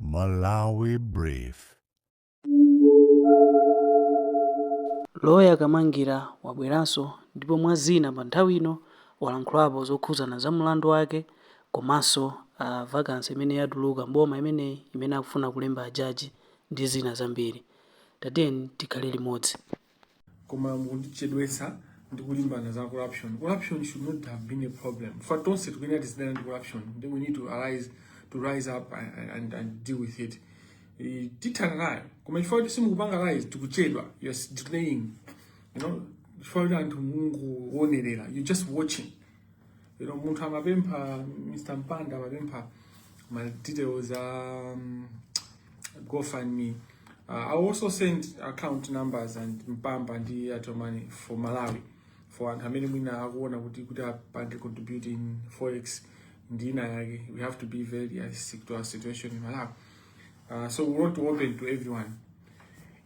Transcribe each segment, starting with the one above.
Malawi Brief. Loya Kamangira wabweranso ndipo mwa zina pa nthawi ino walankhulapo zokhuzana za mulandu wake komanso za vacancy imene yatuluka mboma imeneyi imene akufuna kulemba a judge ndi zina zambiri. Tatiyeni tikhale limodzi. koma mukutichedwetsa ndi kulimbana za corruption corruption should not have been a problem if tonse tikuyenera tizidana ndi corruption then we need to arise to rise up and, and, and deal with it Eh, tithana nayo koma chifukwa kuti simukupanga rise tikuchedwa you're delaying you know chifukwa kuti anthu mungowonerera you just watching you know munthu amapempha mr mpanda amapempha ma details a, um, gofundme uh, i also send account numbers and mpamba ndi airtel money for malawi for anthu amene mwina akuona kuti kuti apange contribute in forex ndi ina yake we have to be very realistic to our situation in malawi uh, so we want to open to everyone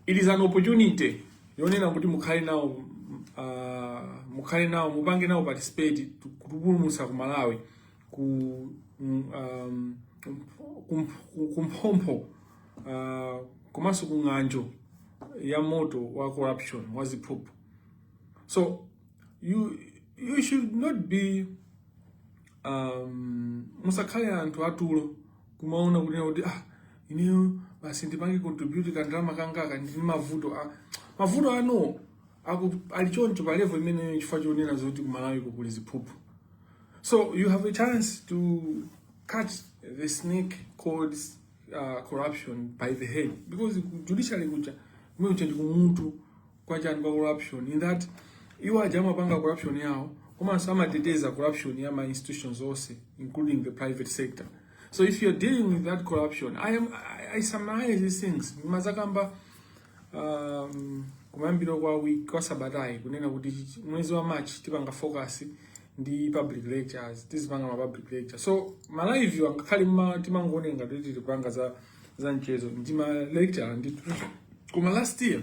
It is an opportunity yonena kuti mukhale nawo uh, mukhale nawo mupange nawo participate kutupulumutsa ku Malawi ku mm, um, kumphompho uh, komanso ku ng'anjo ya moto wa corruption wa ziphuphu so you you should not be um, musakhale anthu atulo kumaona kunena kuti ah, ineyo basi ndipange contribute kandalama kangaka ndi mavuto ah, mavuto ano ali choncho pa level imeneyo chifukwa chonena zoti kumalawi ko kuli ziphuphu so you have a chance to cut the snake called uh, corruption by the head because judiciary kuja kumene kuja ndi kumutu kwa chani kwa corruption in that iwo aja amapanga corruption yawo komanso amateteza corruption ya ma institutions onse including the private sector so if you're dealing with that corruption i am i, I summarize these things ndinazikamba um, kumayambiro kwa week kwa sabatayi kunena kuti mwezi wa march tipanga focus ndi public lectures tizipanga ma public lecture so ma live angakhale mma timangoonera ngati tikupanga za za mchezo ndi ma lecture ndi koma last year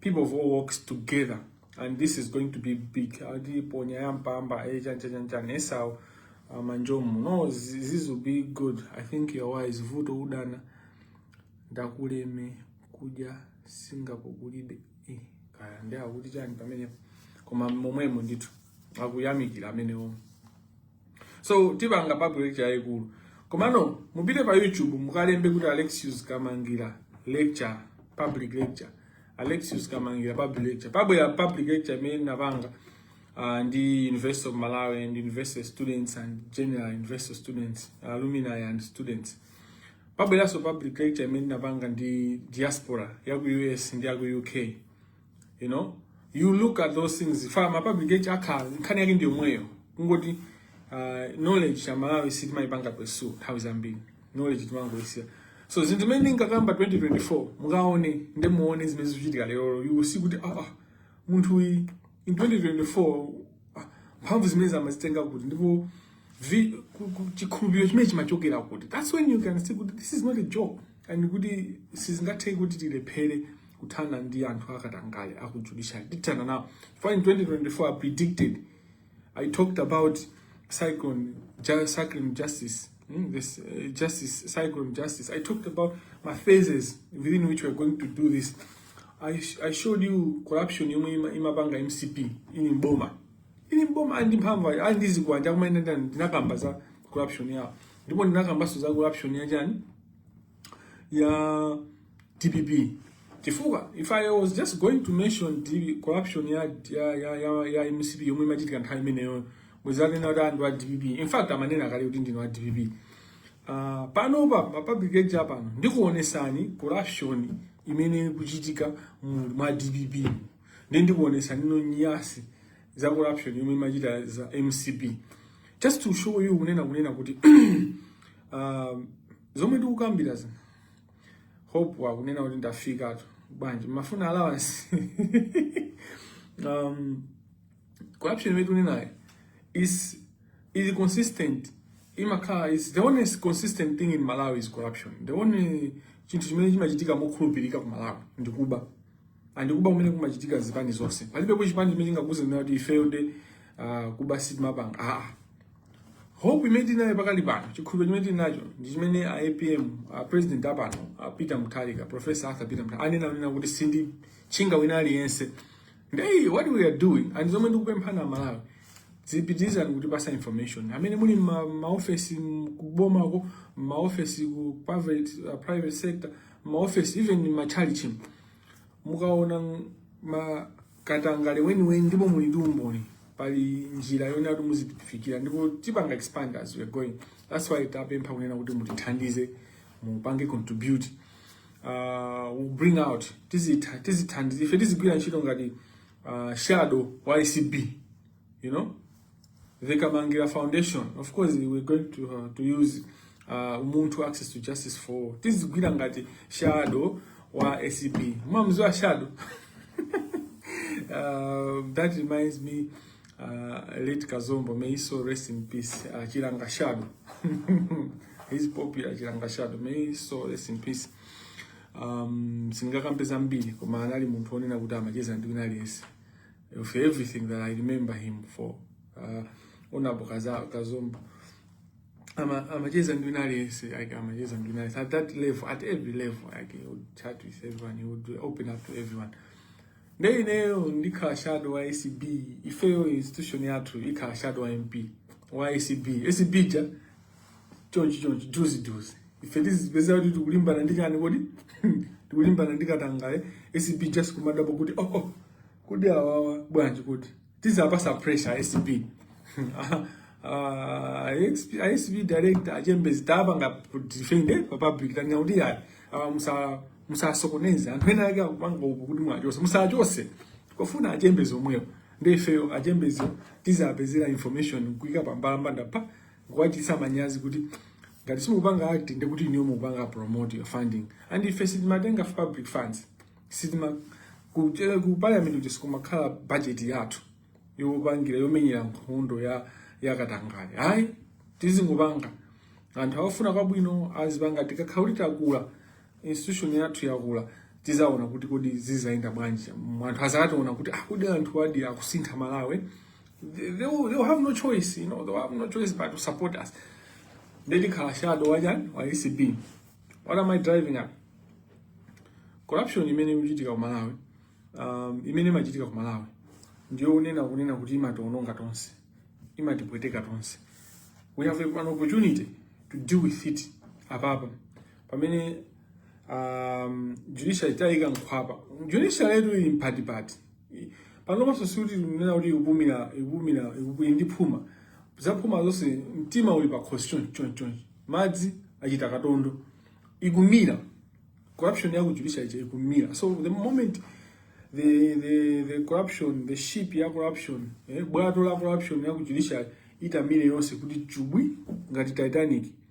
people of all walks together and this is going to be big atiponyera ya mpamba echanchachanchani eh, esau uh, manjomu no this will be good i think you're wise vuto udana ndakuleme kuja singapore kulibe eh, kaya ndi akuti chani pamenepo koma momwemo ndithu akuyamikira amenewo so tipanga public lecture yayikulu komano mupite pa youtube mukalembe kuti alexius kamangira lecture public lecture alexius kamangira public lecture pabwera public lecture imene napanga uh, the university of malawi and university students and general university students alumni and students pabweranso public lecture imene napanga ndi diaspora ya ku us ndi ya ku uk you know you look at those things fa ma public lecture akhala nkhani yake ndi yomweyo kungoti uh, knowledge amalawi sitimayipanga pursue nthawi zambiri knowledge timangoyisiya so zinthu zimene ndinkakamba in 2024 mukaone nde muone zimene zikuchitika lero you will see kuti ah, ah munthu uyi in 2024 ah, mphamvu zimene amazitenga kuti ndipo vi- ku- ku- chikhulupiriro chimene chimachokera kuti that's when you can see kuti this is not a joke and kuti sizingatheke kuti tilephere kuthana ndi anthu akatangale aku judiciary tithana nawo for in 2024 i predicted i talked about cyclone ju- cyclone justice mm, this uh, justice cyclone justice i talked about my phases within which we're going to do this i, sh- I showed you corruption yomwe ima- imapanga mcp ili m'boma ili m'boma ali ndi mphamvu ayi, ali ndi zikwanja koma ine ndina- ndinakamba za corruption yawo ndipo ndinakambanso za corruption ya chani ya dpp chifukwa if i was just going to mention the corruption ya ya ya ya, ya mcp yomwe imachitika nthawi imeneyo muzanena kuti anthu a dpp in fact amanena kale kuti ndine wa dpp Ah, panopa pa public lecture pano ndikuonesani corruption imene ikuchitika mu- mwa dpp ndi ndikuonesani nyansi za corruption yomwe imachita za mcp just to show you kunena kunena kuti ah, zomwe tikukambira zina hope akunena kuti ndafikatu bwanji amafuna allowance um, corruption imene tikunenayo is is consistent imakhala is the only consistent thing in malawi is corruption the only chinthu chimene chimachitika mokhulupirika ku malawi ndikuba and kuba kumene kumachitika zipani zonse palibepo chipani chimene chingakuuze kuti ifeyo nde uh, kuba sitimapanga aa ah, ah. hope imene tili nayo pakali pano chikhulupiriro chimene tili nacho ndi chimene a apm a president apano a peter mutharika professor arthur peter mutharika anena anena kuti sinditchinga wina aliyense nde what we are doing and zomwe ndikupemphani amalawi zipitirizani kutipatsa information amene muli m'ma, maofesi kubomako maofesi ku private, uh, private sector maofesi even matchalitchi mukaona ma katangale weniweni ndipo muli ndi umboni pali njira yonena kuti muzitifikira ndipo tipanga expand as we are going that's why tapempha kunena kuti mutithandize mupange contribute uh, we'll bring out tizitha tizithandize ife tizigwira ntchito ngati uh, shadow wa ACB you know the Kamangira Foundation of course we're going to, uh, to use uh, umuntu access to justice for tizigwira ngati shadow wa ACB mumamziwa shadow uh, that reminds me uh, late Kazombo may his soul rest in peace uh, Chilanga shadow he's popular Chilanga shadow may his soul rest in peace um, singakambe zambiri koma anali munthu onena kuti amacheza ndi wina aliyense of everything that I remember him for uh, Honorable Kazombo amacheza ndi wina aliyense like amacheza ndi wina aliyense at that level at every level like he would chat with everyone he would open up to everyone nde ineyo ndikhala shadow wa acb ifeyo institution yathu ikhala shadow wa mp wa acb acb ja chonchi chonchi juzi juzi ife tizipeza kuti tikulimbana ndi chani kodi tikulimbana ndi katangale acb just kumadapo kuti oh, oh kodi awawa bwanji kuti tizapasa pressure acb acb ah, director a Chilembezi tapanga defend pa public tanena kuti yayi awa musa musasokoneze anthu ena ake akupanga uku kuti muwachose muwachose kufuna a Chilembezi omwewo ndi ifeyo a Chilembezi tizapezera information kuika pambalambanda pa kuwachitisa manyazi kuti ngati simukupanga act nde kuti inuyo mukupanga promote your funding and ife sitimatenga public funds sitima ku ku parliament kuti sikumakhala budget yathu yopangira yomenyera nkhondo ya katangale ayi tizingopanga anthu akufuna kwabwino azipanga tikakhala kuti takula institution yathu yakula tizaona kuti kodi zizayenda bwanji anthu azationa kuti ah, kodi anthu awadi akusintha malawi they, they, will, they will have no choice you know, they will have no choice but to support us nde ndikhala shadow wachani wa acb what am i driving at corruption imene ikuchitika ku malawi um, imene imachitika ku malawi ndiyo onena kunena kuti imatiwononga tonse imatipweteka tonse we have an opportunity to deal with it apapa pamene um, judiciary tayika nkhwapa judiciary yetu ili mpatipati panopanso sikuti kunena kuti ikupumira ikupumira ndi ndi phuma zaphuma zonse mtima uli pakhosi chonchi chonchi chonchi madzi achita katondo ikumira corruption yaku judiciary ija ikumira so the moment the the the corruption the ship ya corruption eh, bwato la corruption yaku judiciary itamire yonse kuti chubwi ngati titanic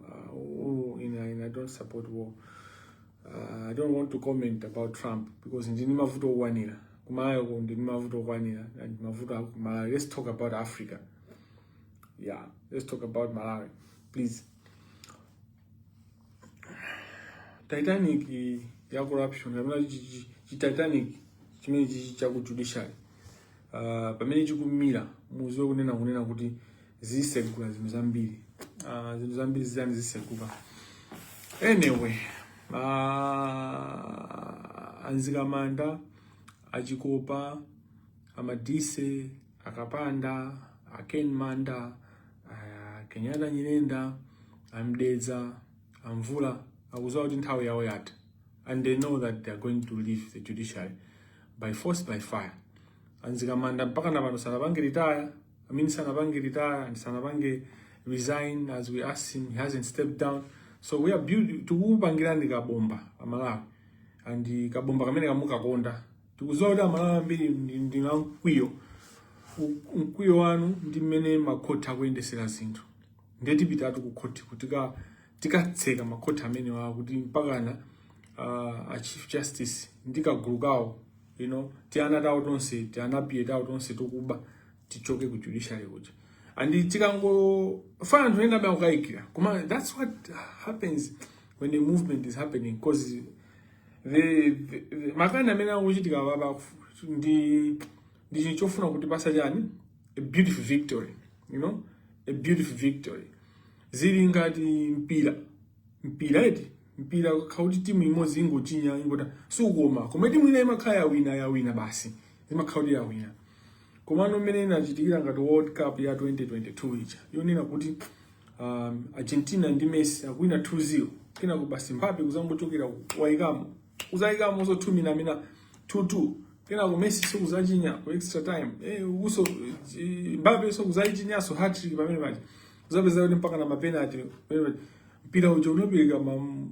Uh, oh, in, in, I don't support war. Uh, I don't want to comment about Trump because ndili ndi mavuto okwanira ku Malawi ko ndili ndi mavuto okwanira and mavuto aku Malawi let's talk about Africa yeah let's talk about Malawi please Titanic ya corruption kapena chi Titanic chimene chichi cha ku judiciary Uh, pamene chikumira muziwe kunena kunena kuti zisegula zinthu zambiri uh, zinthu zambiri zitani ziseguka anyway uh, a Mzikamanda a Chikopa a Madise a Kapanda a Ken Manda uh, Kenyatta Nyirenda a Mdeza a Mvula akuziwa kuti nthawi yawo yatha and they know that they are going to leave the judiciary by force by fire a Mzikamanda mpaka na pano sanapange retire i mean sanapange retire and sanapange resign as we asked him he hasn't stepped down so we are build tikupangira ndi kabomba amalawi and uh, kabomba kamene kamukukonda tikuziwa kuti amalawi ambiri ndi a mkwiyo mkwiyo wanu ndi mmene makhoti akuyendesera zinthu ndetipitatu kukhoti kutika tikatseka makhoti amenewa kuti mpakana uh, a chief justice ndi kagulu kawo you know tiana tawo tonse tianapiye tawo tonse tokuba tichoke ku judiciary kuja and tikangofuna anthu ena amene akukayikira koma that's what happens when a movement is happening because the, the, the makani amene akuchitika apapa ndi ndi chinthu chofuna kutipasa chani a beautiful victory you know a beautiful victory zili ngati mpira mpira eti mpira kuti timu imodzi ingochinya ingota sukoma kauti timu ina imakhala yawina yawina basi imakhala kuti yawina komano mmene inachitikira ngati world cup ya 2022 ija yonena kuti um, argentina ndi messi akuwina 2-0 kenako basi Mbappe kuzangochokera waikamo kuzayikamoso 2 mina mina 2-2 kenako Messi so kuzachinya ku extra time eh, uso eh, Mbappe so kuzachinyaso hattrick pamene paja uzapeza kuti mpaka na mapenalty eh, mpira uja unapeleka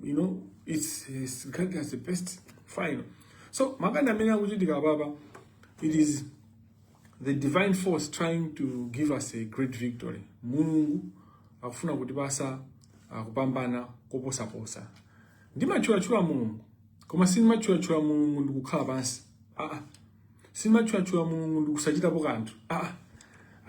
you know it's, it's regarded as the best final so makani amene akuchitika apapa it is the divine force trying to give us a great victory mulungu akufuna kutipasa kupambana ah, koposaposa ndimatchulachula mulungu koma sindimatchulachula mulungu ndikukhala pansi aa ah, ah. simatchulatchula mulungu ndikusachitapo kanthu ah,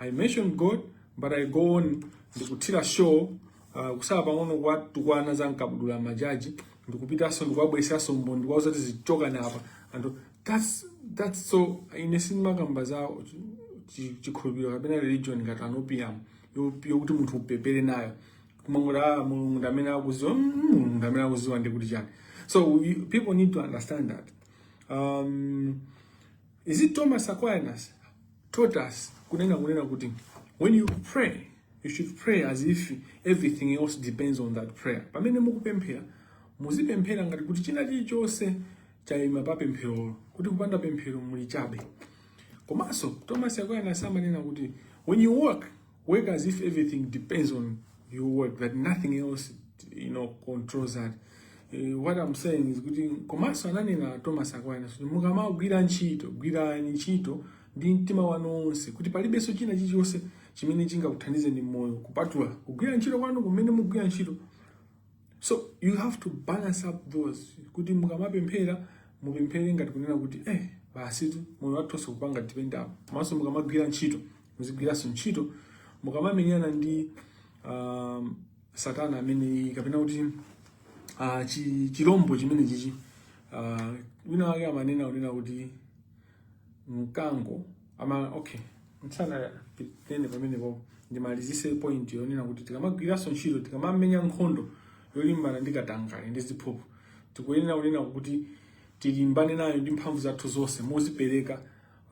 i mention god but i go on ndikuthira show uh, kusala pang'ono kuwatukwana za mkabudula majaji ndikupitanso ndikuwabweresanso mbwe ndikuwauza kuti zichoka apa anthu that's, that's so ine sindimakamba za chi- chikhulupiriro kapena religion ngati an opium yokuti munthu upemphere nayo kumangoti ah, mulungu ndamene akuziwa mm, mulungu ndamene akuziwa ndikuti chani so we, people need to understand that Um, is it Thomas Aquinas taught us kunena kunena kuti when you pray you should pray as if everything else depends on that prayer. Pamene mukupemphera muzipemphera ngati kuti china chilichonse chayima pa pempherolo kuti kupanda pemphero muli chabe. Komanso Thomas Aquinas amanena kuti when you work Work as if everything depends on your work, that nothing else you know, controls that. Eh, what I'm saying is kuti komanso ananena Thomas Aquinas kuti mukamagwira ntchito gwirani ntchito ndi mtima wanu wonse kuti palibenso china chilichonse chimene chingakuthandize m'moyo kupatula kugwira ntchito kwanu kumene mugwira ntchito so you have to balance up those kuti mukamapemphera mupemphere ngati kunena kuti eh basitu moyo wathu onse kupanga depend up komanso mukamagwira ntchito Muzigwiranso ntchito mukamamenyana ndi uh, Satana amene kapena kuti uh, chi, chilombo chimene chichi uh, wina wake amanena unena kuti mkango ama okay mtsana tene pamene po ndimalizitse point yonena kuti tikamagwiranso ntchito tikamamenya nkhondo yolimbana ndi katangale ndi ziphuphu tikuyenera kunena kuti tilimbane nayo ndi mphamvu zathu zonse mozipereka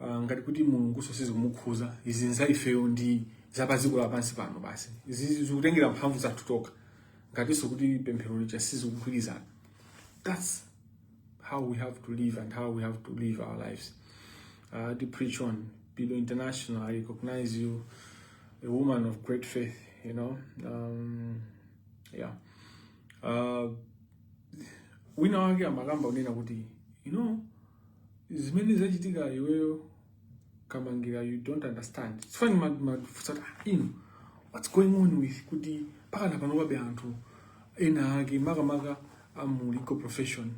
Ah, ngati kuti Mulungunso sizikumukhuza izi nza ifeyo ndi zapadziko lapansi pano basi izi zikutengera mphamvu zathu tokha ngatinso kuti pemphero lija sizikugwirizana that's how we have to live and how we have to live our lives uh, to preach on Bido International I recognize you a woman of great faith you know um, yeah uh, wina wake amakamba unena kuti you know zimene zachitika iweyo kamangira you don't understand it's funny mad mad sort of in what's going on with kuti mpakana panobe anthu ena ake makamaka amu legal profession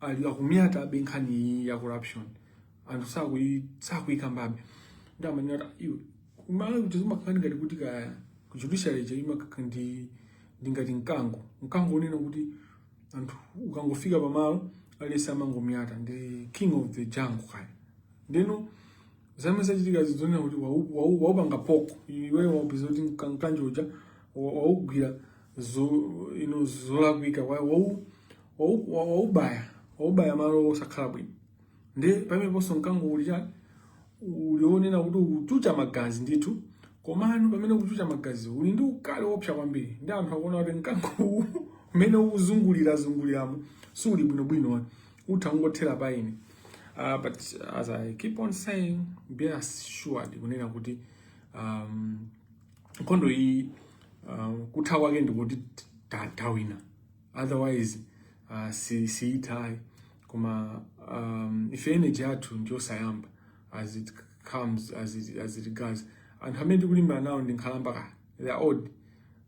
ali akunyatabe nkhani iyi ya corruption anthu sakuyi sakuyikambabe ndi amanena kuti iwe kumala kuti zimakhala ngati kuti ka judiciary je imakhala ndi ndi ngati mkango mkango unena kuti anthu ukangofika pamalo aliyense amangonyata ndi king of the jungle kaya ndiyeno zimene zachitika zikuoneka kuti waupanga poko iwe waupeza kuti mkango uja waugwira ino zolakwika waubaya waubaya malo osakhala bwino ndi pameneponso mkango uli chani uli woonena kuti ukuchucha magazi ndithu komano pamene ukuchucha magazi uli ndi ukali wopsa kwambiri ndi anthu akuona kuti mkango uwu umene ukuzungulira zunguliramo suli bwinobwino utha kungothera pa ine Uh, but as I keep on saying, be assured kunena kuti um, nkhondo iyi um, kutha kwake ndikuti tawina otherwise uh, si, siithayi koma um, ife energy yathu ndiyosayamba as it comes as it, as it goes anthu amene tikulimbana nawo ndi nkhalamba kaya they are old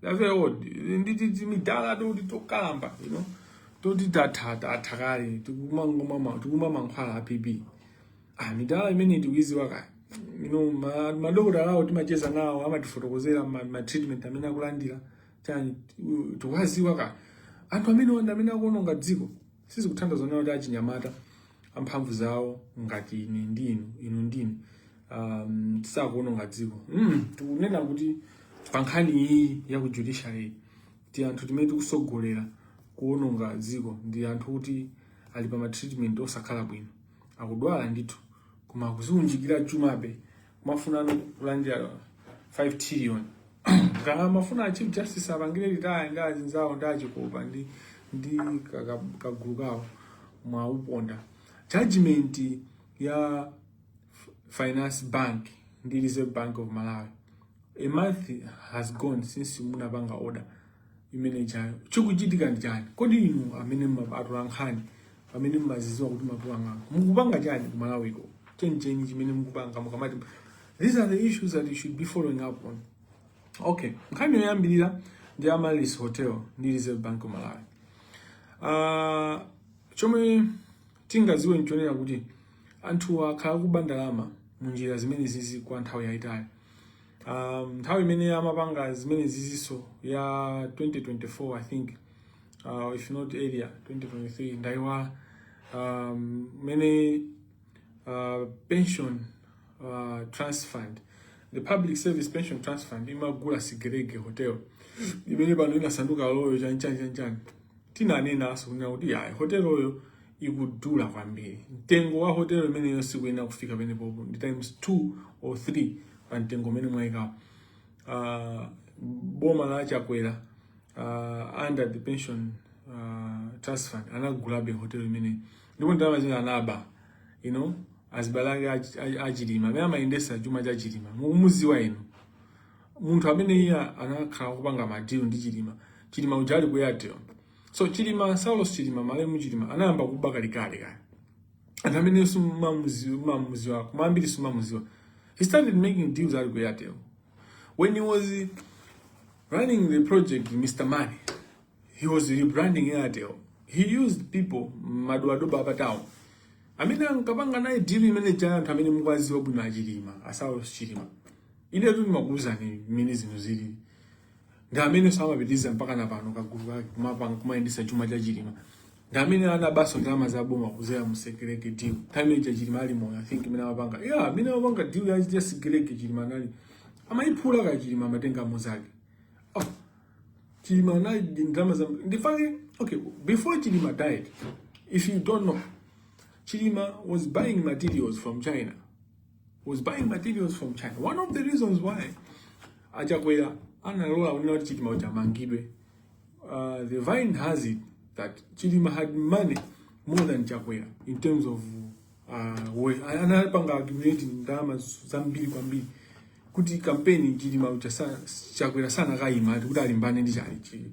they are very old nditi timidala toti tokalamba you know toti tatha kale tikumwa mankhwala a BP ah midala imene tikuiziwa kaya you know ma- madokotala awo timacheza nawo amatifotokozera ma- ma treatment amene akulandira chani tikuwaziwa kaya anthu amenewa nda amene akuononga dziko sizikuthandiza onena kuti achinyamata amphamvu zawo ngati ine ndi inu inu ndi inu um, tisakuononga dziko mm, tikunena kuti pa nkhani iyi ya ku judiciary ti anthu timene tikusogolera kuononga dziko ndi anthu oti ali pa matreatment osakhala bwino akudwala ndithu koma akuziunjikira chumabe kumafuna kulandira 5 trillion kama mafuna a chief justice apangire retire ndi azinzawo ndi achikopa ndi ndi kagulu kawo mwauponda judgment ya finance bank ndi reserve bank of malawi a month has gone since munapanga order imene ijayo chikuchitika ndi chani kodi inu amene atolankhani amene mmaziziwa kuti mapuwa ng'anga mukupanga chani ku malawiko chenicheni chimene mukupanga mukamati these are the issues that you should be following up on okay nkhani yoyambirira ndi amaryllis hotel ndi reserve bank of malawi uh, chomwe tingaziwe nchonena kuti anthu akhala akuba ndalama mu njira zimenezizi kwa nthawi yayitali um, nthawi imene amapanga zimeneziziso ya 2024 i think uh, if not earlier 2023 ndaiwala um, mene uh, pension uh, trust fund the public service pension trust fund imagula sigerege hotel imene pano inasanduka loyo chanchani chanchani tinanenaso kuti yayi hoteloyo ikudula kwambiri. Mtengo wa hotelo imeneyo sikuyenera kufika penepopo, ndi times 2 or 3 pa mtengo umene mwayikawo. Uh, ah, boma la Chakwera uh, under the pension uh, trust fund anagulabe hotelo imeneyo ndipo ndalama zina anaba you know azibale ake achilima amene amayendesa chuma cha chilima mukumuziwa inu munthu amene uja anakhala akupanga madilu ndi chilima chilima uja ali ku airtel So Chilima, Saulos Chilima, malemu Chilima anayamba kuba kalikale kaya. Anthu amene mumamuziwa, koma ambiri sumamuziwa. He started making deals ali ku Airtel. When he was running the project Mr. Money, he was rebranding Airtel. He used people madobadoba apa town. Amene ankapanga naye deal imene ija anthu amene mukwaziwa bwino a Chilima, a Saulos Chilima. Inetu ndimakuuzani mmene zinthu zilili. ndi ameneso amapitiriza mpaka na pano kagulu kake kumapanga kumayendesa chuma cha Chilima ndi amene anabaso ndalama za boma kuzera mu sekeleke deal time ija Chilima ali moyo I think imene amapanga yeah imene amapanga deal ya ya sekeleke Chilima anali amayiphula ka Chilima amatenga muzake oh Chilima anali ndi ndalama za ndi fake okay before Chilima died if you don't know Chilima was buying materials from China was buying materials from China. One of the reasons why a Chakwera analola kunena kuti Chilima uja amangidwe. Uh, the vine has it that Chilima had money more than Chakwera in terms of uh, worth. Anapanga accumulate ndalama zambiri kwambiri kuti kampeni Chilima uja sa- Chakwera sanakayima kuti alimbane ndi chali chili.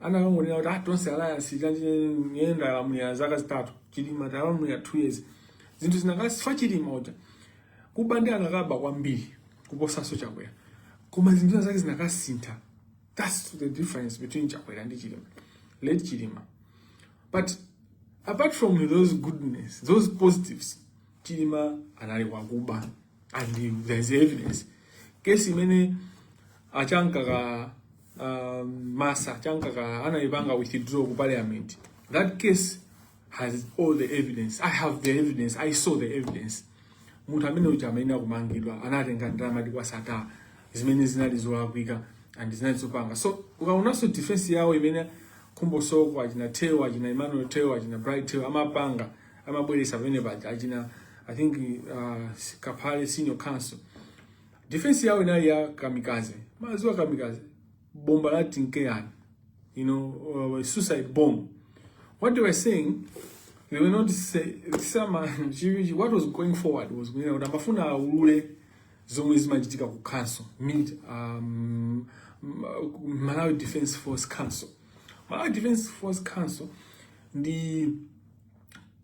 anakangonena kuti ah, tonse alliance ija ine ndalamulira zaka zitatu chilima ndalamulira two years zinthu zinakasintha chilima uja kuba nde anakaba kwambiri kuposanso chakwera koma zinthu zake zinakasintha that's the difference between chakwera ndi chilima late chilima but apart from those goodness those positives chilima anali wakuba and there's evidence kesi imene a chamkaka uh, masa chamkakala anayipanga withdraw ku parliament that case has all the evidence i have the evidence i saw the evidence munthu amene uja amayenera kumangidwa anatenga ndalama kwa sattar zimene zinali zolakwika and zinali zopanga so ukaonanso defense yawo imene khumbo soko achina theu achina emmanuel theu achina bright theu amapanga amabweresa pamene paja achina i think uh, kaphale senior counsel Defense yao inali ya kamikaze. Maziwa kamikaze. Bomba la tinkean. You know, uh, suicide bomb. What they were saying, they were not say, some, what was going forward was, you know, namafuna ulule zomwe zimachitika ku council, mid, um, Malawi Defense Force Council. Malawi Defense Force Council, ndi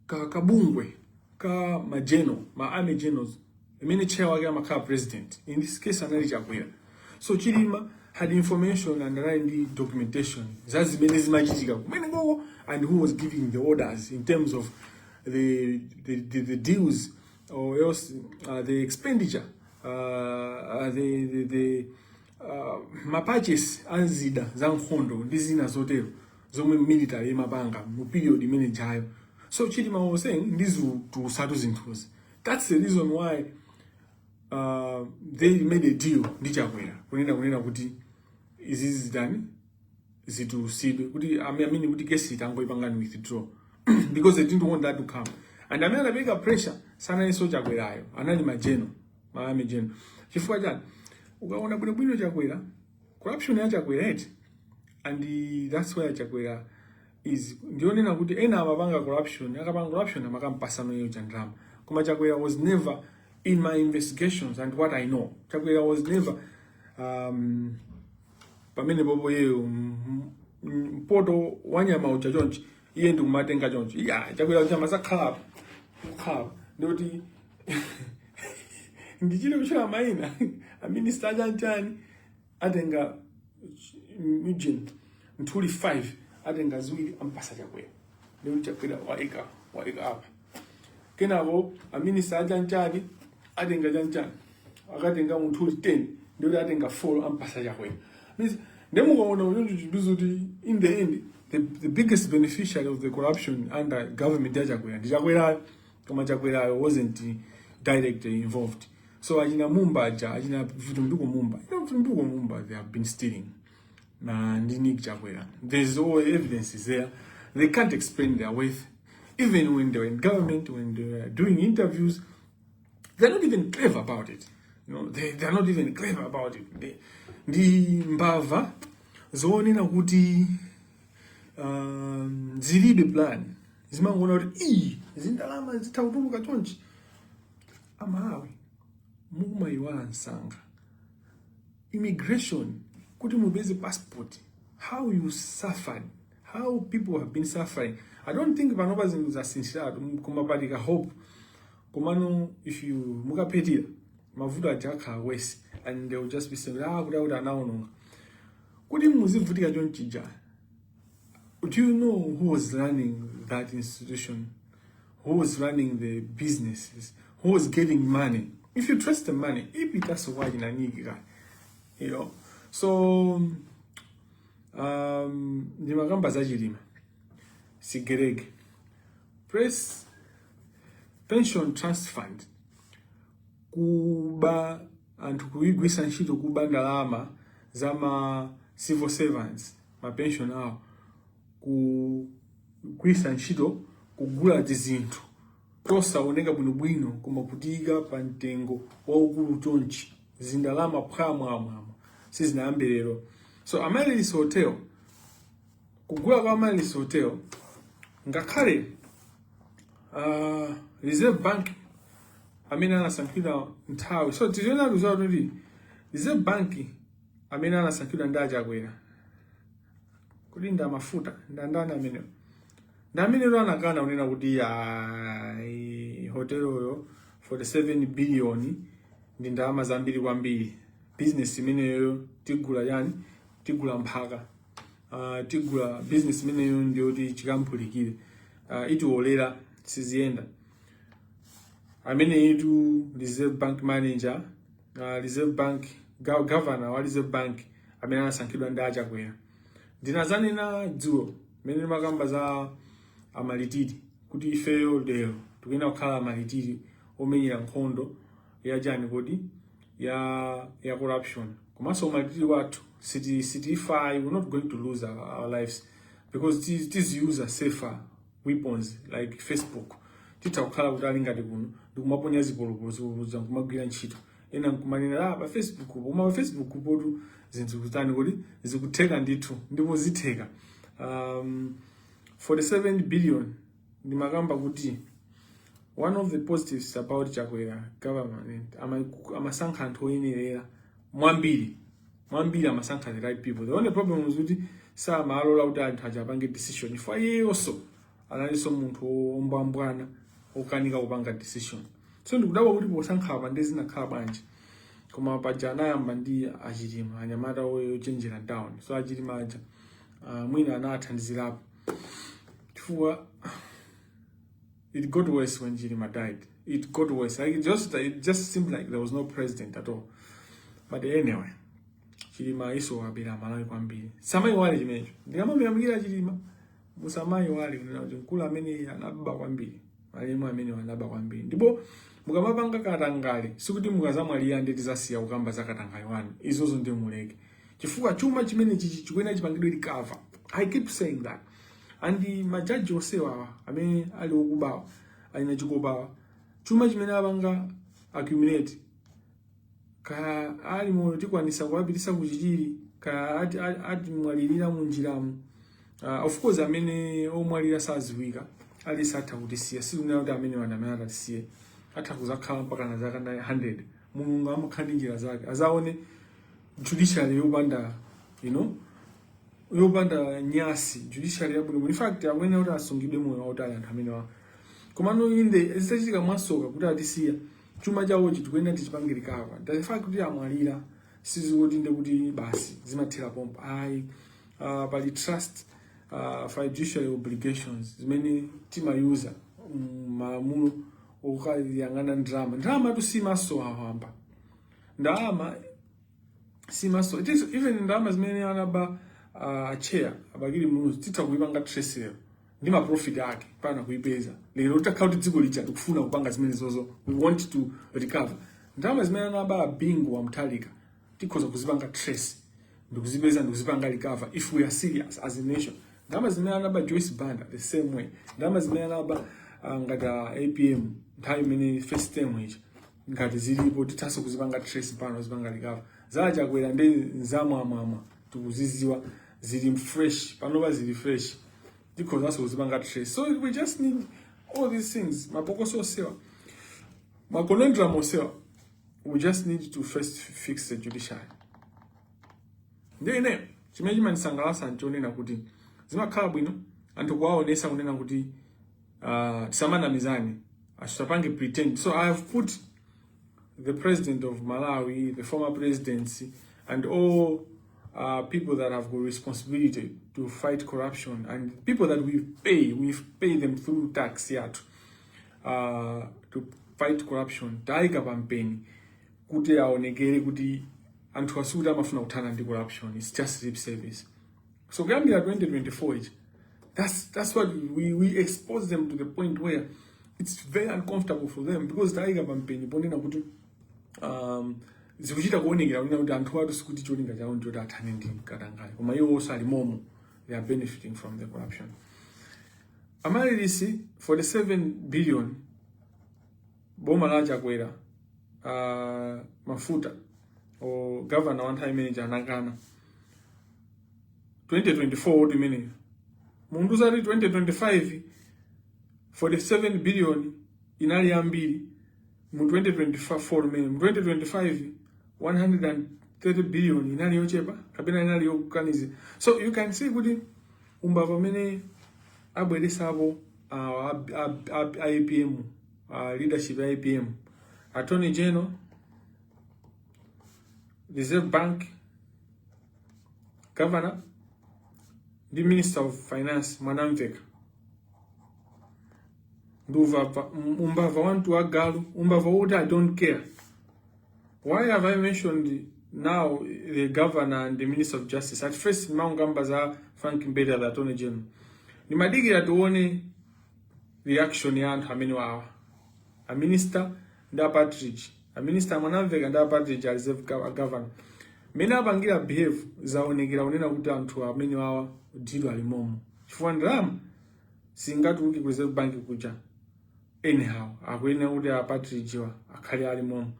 ka kabungwe ka majeno ma army generals imene chair wake amakhala president in this case anali chakwera so chilima had information and anali ndi documentation za zimene zimachitika kumenekoko and who was giving the orders in terms of the, the, the, the deals or else uh, the expenditure uh, uh, the, the, the uh, mapurchase a zida za nkhondo ndi zina zotero zomwe military imapanga mu period imene ijayo so chilima was saying ndizitulutsatu zinthuzi That's the reason why uh, they made a deal ndi chakwera kunena kunena kuti izi zitani zitusidwe kuti amene kuti kesiyi tangoipangani withdraw because they didn't want that to come and amene anapereka pressure sanalinso chakwerayo anali ma general ma army general chifukwa chani ukaona bwino bwino chakwera corruption ya chakwera eti and that's why chakwera izi ndikunena kuti ena amapanga corruption akapanga corruption amakampatsano iyeyo chandalama koma chakwera was never in my investigations and what i know chakwera was never um, pamene pompo iyeyo mpoto wanyama uja chonchi iye ndikumatenga chonchi iya chakwera uja masakhalapo kukhalapo ndikuti nditchule kutchula maina aminista chanchani atenga ujeni nthuli 5 atenga ziwiri ampatsa chakwera ndikuti chakwera waika waika apa kenako aminista achanchani atenga chanchani akatenga nthuli 10 ndikuti atenga 4 ampatsa chakwera Means, nde mukaona unyonjo chibizo kuti in the end the, the biggest beneficiary of the corruption under government ya chakwera ndi chakwerayo koma chakwerayo wasn't directly involved so achina mumba aja achina vitumbiko mumba you know vitumbiko mumba they have been stealing na ndi Nick Chakwera there's all evidence is there they can't explain their wealth even when they were in government when they were doing interviews they're not even clever about it you know they, they're not even clever about it they, ndi mbava zoonekera kuti um, zilibe plan zimangoona kuti ii zindalama zitha kutuluka chonchi amalawi mukumaiwala msanga immigration kuti mupeze passport how you suffered how people have been suffering i don't think panopa zinthu zasinthiratu koma pali ka hope komano if you mukaphetira mavuto aja akakhala worse and they will just be saying ah kuti akuti anaononga kuti muzivutika chonchija Do you know who was running that institution? Who was running the businesses? Who was getting money? If you trust the money, maybe that's why in a nigga, you know. So, um, ndimakamba za chilima sigerege press pension trust fund kuba anthu kuigwisa ntchito kuba ndalama za ma civil servants mapenshoni awo kugwiritsa ntchito kugula tizinthu tosaoneka bwinobwino koma kutiika pa mtengo waukulu chonchi zindalama phwamwamwamwa sizinayambe lero so amaryllis hotel kugula kwa amaryllis hotel ngakhale uh, reserve bank amene anasankhidwa nthawi so tiliona kuti reserve bank amene anasankhidwa ndi achakwera kodi ndi amafuta ndi andani amenewo ndi amenewo anakana kunena kuti ayi hoteloyo 47 billion ndi ndalama zambiri kwambiri business imeneyo tigula chani tigula mphaka uh, tigula business imeneyo ndiyoti chikampulikire uh, ah, itiwolera siziyenda ameneyitu reserve bank manager uh, Reserve Bank governor wa Reserve Bank amene anasankhidwa ndi a Chakwera ndinazanena dzulo mene ndimakamba za a Martyrs kuti ifeyo lero tikuyenda kukhala ma martyr omenyera nkhondo ya chani kodi ya ya corruption komanso umalitiri wathu siti siti if i we're not going to lose our, our lives because tiziyuza safer weapons like facebook titakhala kuti ali ngati kuno ndikumaponya zipolopolo zipolopolozo nkumagwira ntchito ena nkumanena ah, pa facebook po koma pa facebook potu zinthu kutani kodi zikutheka ndithu ndipo zitheka um, 47 billion ndimakamba kuti one of the positives about chakwera government amasankha anthu oyenerera mwambiri mwambiri amasankha the right people the only problem is kuti samalola kuti anthu aja achapange decision chifukwa iyeyonso analinso munthu wombwambwana wokanika kupanga decision so ndikudabwa kuti posankha apa nde zinakhala bwanji koma paja anayamba ndi a Chilima anyamata ochenjera town so a Chilima aja uh, mwina anathandizirapo chifukwa It got worse when Chilima died. It got worse. Like it just it just seemed like there was no president at all. But anyway, Chilima naye anabera Malawi kwambiri. Musamaiwale chimenecho. Ndikamamuyamikira Chilima. Musamaiwale kuti mkulu amene anaba kwambiri. Malemu amenewa anaba kwambiri. Ndipo mukamapanga katangale sikuti mukazamwalira nde tizasiya kukamba za katangale wanu. Izozo nde muleke. Chifukwa chuma chimenechi chi chikuyenera chipangidwe recover. I keep saying that. and majaji onsewawa amene ali okubawa a Kenani Chikopawa chuma chimene apanga accumulate ka ali moyo tikwanisa kuwapitisa ku Chichiri ka ati, ati, ati mwalirira munjiramu uh, of course amene omwalira saziwika aliyense atha kutisiya sikunena kuti amenewa nde amene atatisiye atha kuzakhala mpaka na zaka 100 mulungu amakhala ndi njira zake azaone judiciary yopanda you know yopanda nyasi judiciary yabwino in fact akuyenera kuti asungidwe moyo wautali anthu amenewa komano inde zitachitika mwasoka kuti atisiya chuma chawochi tikuyenera tichipange recover the fact kuti amwalira sizikuti nde kuti basi zimathera pompa ayi ah, pali trust ah, fiduciary obligations zimene timayuza mm, malamulo okuyang'ana ndalama ndalamatu simasowa wamba ndalama simasowa itinso even ndalama zimene anaba uh, chair a Bakili muluzi titha kuipanga trace lero ndi ma profit ake mpaka kuipeza lero titakhala kuti dziko lija tikufuna kupanga zimenezozo we want to recover ndalama zimene anaba bingu wa Mutharika tikhoza kuzipanga trace ndikuzipeza ndikuzipanga recover if we are serious as a nation ndalama zimene anaba joyce banda the same way ndalama zimene anaba uh, ngati uh, apm nthawi imene first term ija ngati zilipo tithanso kuzipanga trace pano zipanga recover za chakwera ndi nzamwamwamwa tikuziziwa zili fresh panopa zili fresh tikhozanso kuzipanga trace so we just need all these things mapokoso onsewa maconundrum onsewa we just need to first fix the judiciary ndi ine chimene chimandisangalatsa nchonena kuti zimakhala bwino anthu kuwaonesa kunena kuti Uh, tisamanamizane asitapange pretend so i have put the president of malawi the former presidency and all uh, people that have got responsibility to fight corruption and people that we pay we pay them through tax yathu uh, to fight corruption taika pampeni kuti aonekere kuti anthu asikuti amafuna kuthana ndi corruption its just lip service So kuyambira 2024 ichi that's that's what we, we expose them to the point where it's very uncomfortable for them because tayika pampeni ponena kuti um, zikuchita kuonekera kunena kuti anthuwatu sikuti cholinga chawo ndichoti athane ndi katangale koma iwo onse ali momo they are benefiting from the corruption Amaryllis 47 billion boma la chakwera uh, mafuta o governor wa nthawi imeneyi anakana 2024 hotel imeneyo mundiuza kuti 2025 47 billion inali yambiri mu 2024 mmene mu 2025 130 billion inali yochepa kapena inali yokukaniza so you can see kuti umbava amene abweresapo ah, ab- ab- ab- APM ah, leadership ya APM attorney general reserve bank governor ndi minister of finance mwanamveka ndi uvava- um- umbava wantu wa galu umbava wokuti i don't care why have i mentioned now the governor and the minister of justice at first maungamba za frank mbeda the attorney general ndimadikira tione reaction ya anthu amene wawa a minister ndi a Partridge. A minister a Mwanamvekha ndi a Partridge a reserve gov- a governor. Mmene apangira behave zaonekera kunena kuti anthu amene wawa deal ali momo. Chifukwa ndalama singatuluke ku reserve bank kuja. Anyhow, akuyenera kuti a Partridge wa akhale ali momo.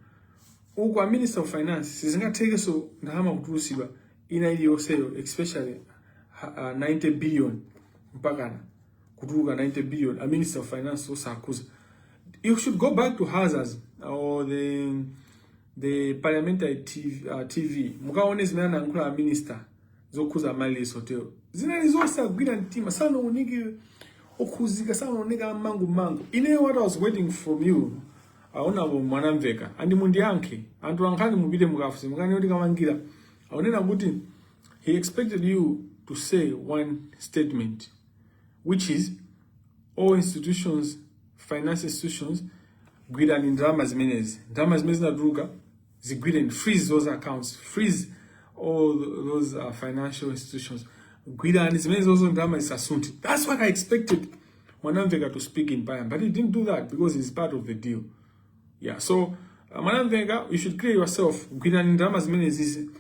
Uku a minister of finance sizingathekenso ndalama kutulusidwa ina iliyonseyo especially ha- ah, 90 billion mpakana kutuluka 90 billion a minister of finance osakhuza you should go back to Hansards or the the parliamentary tv, uh, TV mukaone zimene anayankhula a minister zokhuza Amaryllis hotel zinali zosagwira mtima sanaoneke okhuzika sanaoneka mangu mangu ine what i was waiting from you honourable Mwanamvekha and mundiyankhe anthu ankhani mupite mukafunse mukanene kuti Kamangila akunena kuti He expected you to say one statement, which is all institutions, finance institutions, gwirani ndalama zimenezi ndalama zimene zinatuluka zigwireni freeze those accounts freeze all those uh, financial institutions gwirani zimenezozo ndalama zisasunthe that's what i expected Mwanamvekha to speak in parliament but he didn't do that because he's part of the deal Yeah, so uh, Mwanamvekha you should clear yourself gwirani ndalama zimenezizi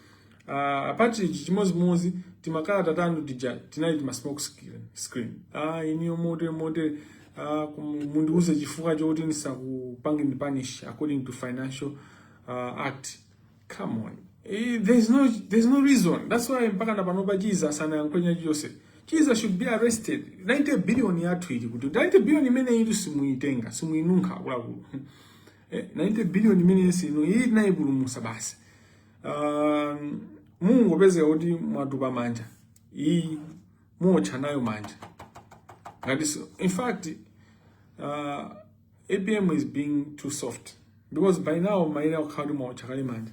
uh, a Partridge chimodzimodzi timakalata tanu tija tinali tima smoke screen, screen. Ah, iniyo motere motere ah, kum- mundiuze chifukwa choti ndisakupangeni punish according to financial uh, act Come on. Eh, there's no there's no reason. That's why mpaka na panopa Chizuma sanayankhule anything. She should be arrested. 90 billion yathu ili kuti 90 billion imene ili simuitenga, simuinunkha akuluakulu. Eh, 90 billion imene si imene naipulumusa basi. Um, Mungopezeka kuti mwatupa manja. Iyi muotcha nayo manja. Ngati so, in fact uh, apm is being too soft because by now mayenera kukhala kuti mwaotcha kale manja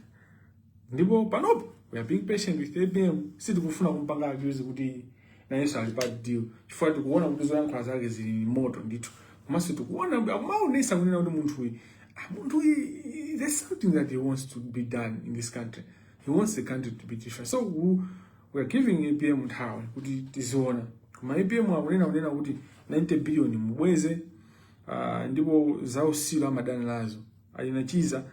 ndipo panopo we are being patient with apm sitikufuna kumpanga accuse kuti nayenso ali pa deal chifukwa tikuona kuti zoyankhula zake zili ni moto ndithu komanso tikuona amaonesa kunena kuti munthuyi ah, munthuyi there's something that he wants to be done in this country he wants the country to be different so we, we are giving apm nthawi kuti tiziona koma apm akunena kuti 90 billion mubweze uh, ndipo zautsiru amadana nazo achina chiza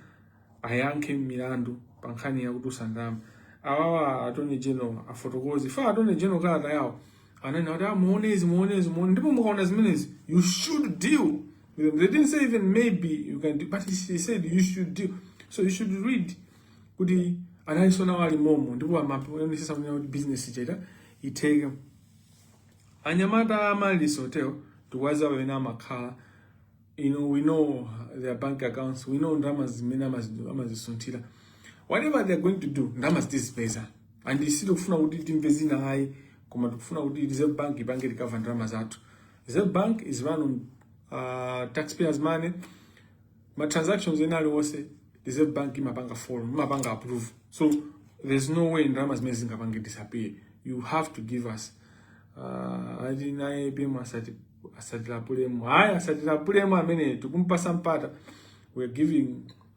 ayankhe milandu pa nkhani ya kutulutsa ndalama awawa attorney general afotokoze chifukwa attorney general kalata yawo anena kuti amuone ah, izi muone izi muone ndipo mukaona zimenezi you should deal with them they didn't say even maybe you can do, but he said you should deal so you should really kuti analinso nawo ali momo ndipo amaonetsetsa kuti business itheke itheke Anyamata a Amaryllis Hotel tikuwadziwa pamene amakhala you know, we know their bank accounts we know ndalama zimene amazisunthira whatever they are going to do ndalama zitizipeza and sitikufuna kuti timve zina ayi koma tikufuna kuti reserve bank ipange recover ndalama zathu reserve bank is run on uh, taxpayers money ma transactions ena aliwonse reserve bank imapanga follow imapanga approve so there's no way ndalama zimene zingapange disappear you have to give us uh, ati naye pema asati asatilapulemo hayi asatilapulemo amene tikumpasa mpata we're giving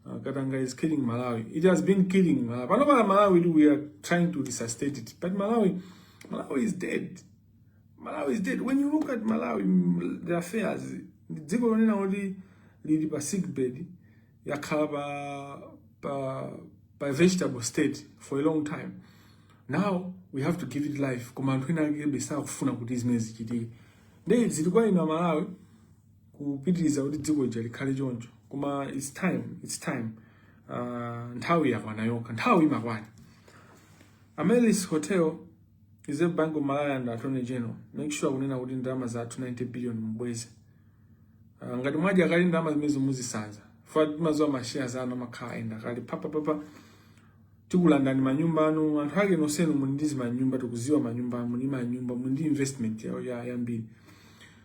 uh, katanga is killing malawi it has been killing malawi pano pala malawi we are trying to resuscitate it but malawi malawi is dead Malawi is dead. When you look at Malawi, mm, the affairs, ndi dziko lonena kuti lili pa sick bed, yakhala pa, pa, pa vegetable state for a long time. Now we have to give it life. Koma anthu ena akebe sakufuna kuti zimenezi zichitike. Ndiye zili kwa inu a Malawi kupitiriza kuti dziko lija likhale choncho. Koma it's time, it's time. Uh, nthawi yakwana yokha. Nthawi imakwana. Amaryllis Hotel Reserve Bank of Malawi and Attorney General make sure kunena kuti ndalama zathu 90 billion mubweze. Uh, ah, ngati mwadya kale ndalama zimenezo muzisanza. Chifukwa timadziwa ma shares anu amakhala and akali papa papa tikulandani manyumba anu anthu ake nosenu muli ndi zimanyumba tikudziwa manyumba anu muli manyumba muli ndi investment ya ya yambiri.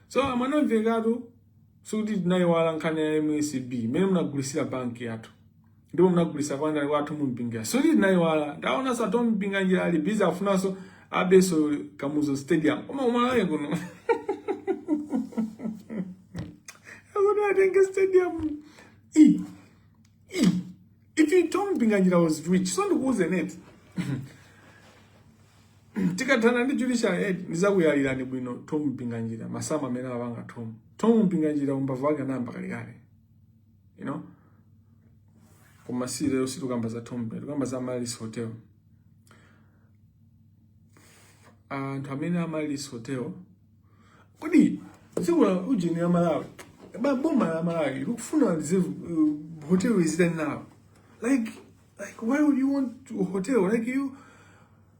So a Mwanamvekha tu sikuti tinayiwala nkhani ya MSB mene munagulisira banki yathu. ndipo munagulisa kwa a tom mpinganjira so ndi nayo wala ndaonaso a tom mpinganjira ali busy afunaso abeso kamuzu stadium koma umalaye kuno akuti atenge stadium i i if you tom mpinganjira was rich so ndikuuzeni tikathana ndi judiciary head ndizakuyalirani bwino tom mpinganjira masamu amene apanga tom tom mpinganjira umbava wake anayamba kalekale you know koma si lero situkamba za tom tukamba za amaryllis hotel anthu amene amaryllis hotel kodi dziko la ujeni la malawi ba- boma la malawi likufuna lize uh, hotel lizitani nawo like like why would you want a hotel like you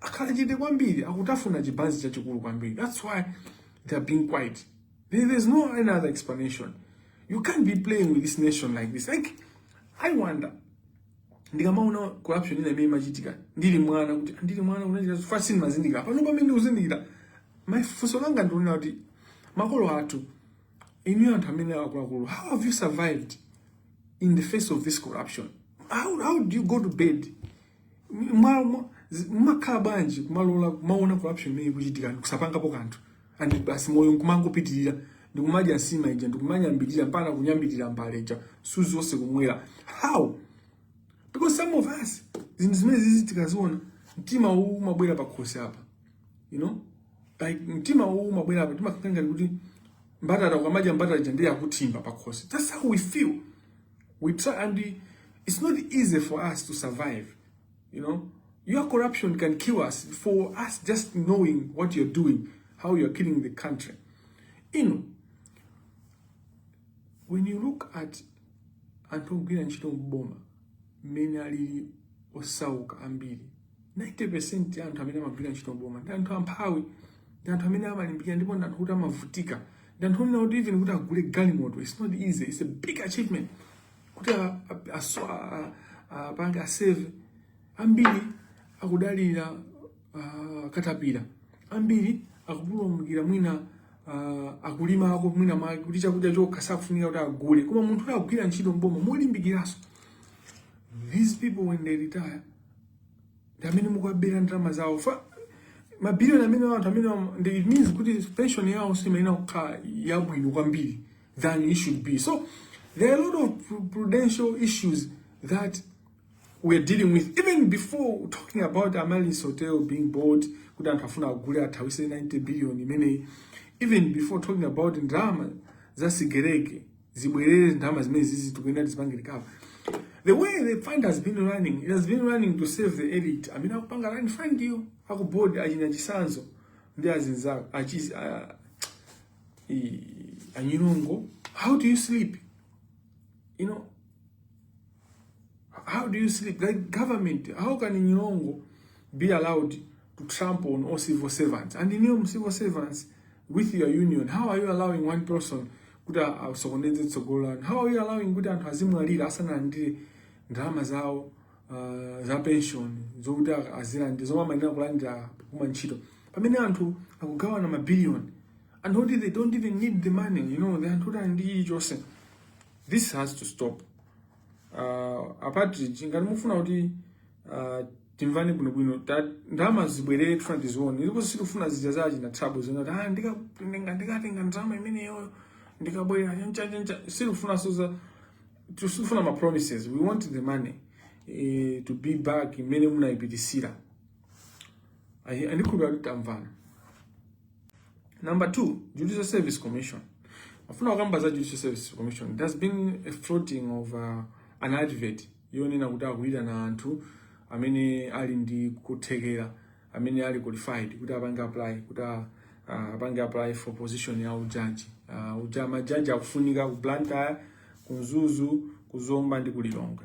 akhala chete kwambiri akutafuna chibanzi chachikulu kwambiri that's why they are being quiet there's no another explanation you can't be playing with this nation like this like i wonder ndikamaona corruption ina imene imachitika ndili mwana kuti ndili mwana unachita fashion mazindikira pano pamene ndikuzindikira funso langa ndikunena kuti makolo athu inuyo anthu amene akuluakulu how have you survived in the face of this corruption how, how do you go to bed mwa- mwa- zi- mmakhala bwanji kumalola kumaona corruption imene ikuchitika ndikusapangapo kanthu and basi moyo nkumangopitirira ndikumadya nsima ija ndikumanyambirira mpaka kunyambirira mbale ija msuzi wonse kumwera how because some of us zinthu zimene zizi tikaziona mtima uwu umabwera pakhosi apa you know like mtima uwu umabwera apa timakhala ngati mbatata ukamadya mbatata ija ndiye ikutsamwa pakhosi that's how we feel We try and we, it's not easy for us to survive, you know. Your corruption can kill us for us just knowing what you're doing, how you're killing the country. You know, when you look at anthu ogwira ntchito m'boma mmene alili osauka ambiri 90% ya anthu amene amagwira ntchito m'boma ndi anthu amphawi ndi anthu amene amalimbikira ndipo ndi anthu kuti amavutika ndanthu onena kuti even kuti agule galimoto it's not easy it's a big achievement kuti apange asave ambiri akudalira katapira ambiri akupulumukira mwina uh, akulimako mwina mwake kuti chakudya chokha sakufunika kuti agule koma munthu woti akugwira ntchito mboma molimbikiraso these people when they retire ndi amene mukuabera ndalama zawo mabiliyoni amene anthu amene am- ndi- it means kuti pension yawoso imayenera kukhala yabwino kwambiri than it should be so there are a lot of pru- prudential issues that we're dealing with even before talking about Amaryllis Hotel being bought kuti anthu afuna agule athawise 90 billion imeneyi even before talking about ndalama za sigerege zibwerere ndalama zimenezizi tikuyenera tizipange recover the way the fund has been running it has been running to serve the elite amene akupanga run fund yo akubodi achina chisanzo ndi azinzawo achizi a- i- a nyirongo how do you sleep you know How do you sleep? Like government, how can Nyirongo be allowed to trample on all civil servants? And inuyo civil servants with your union, how are you allowing one person kuti asokoneze tsogolo lanu? How are you allowing kuti anthu azimwalira asanalandire ndalama zawo uh, za pension zokuti azilandira zomwe amayenera kulandira kuma ntchito pamene anthu akugawana mabiliyoni anthu oti they don't even need the money you know, anthu oti ali ndi chilichonse this has to stop uh, apatu ngati mufuna kuti uh, timvane bwinobwino ta- ndalama zibwerere tifuna tizione ndipo sitifuna zija za achina thabo zinati ah, ndika- ndinga- ndikatenga ndalama imeneyo ndikabwera chanchanchancha sitifunaso za sitifuna ma promises we want the money eh, to be back mmene munayipitisira ndikhulupira kuti tamvana Number two, Judicial Service Commission. Ndimafuna kukamba za Judicial Service Commission. It has been a floating of uh, an advert yonena kuti akuyitana anthu amene ali ndi kuthekera amene ali qualified kuti apange apply kuti uh, apange apply for position ya ujaji uh, uja majaji akufunika ku Blantyre, ku Mzuzu, ku Zomba ndi ku Lilongwe.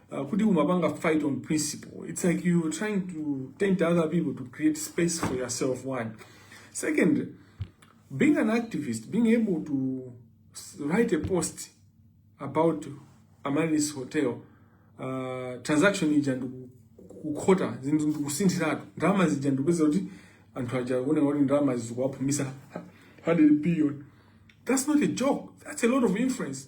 Uh, kuti umapanga fight on principle it's like you're trying to tempt other people to create space for yourself one second being an activist being able to write a post about amaryllis hotel uh, transaction ija ndikukhota zinthu ndikusinthiratu ndalama zija ndikupeza kuti anthu aja akuoneka kuti ndalama zikuwaphumisa 100 billion that's not a joke that's a lot of influence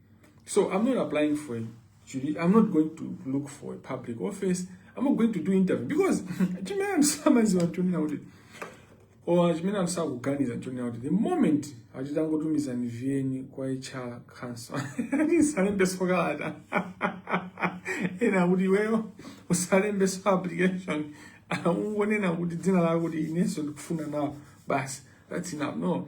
So I'm not applying for ujaji. I'm not going to look for a public office. I'm not going to do interview because chimene samaziwa chonena kuti or chimene sakuganiza chonena kuti the moment achitangotumiza niviyeni kwa HR council ndisalembeso kalata ena kuti iweyo usalembeso application ungonena kuti dzina lako kuti inenso ndikufuna nawo basi that's enough no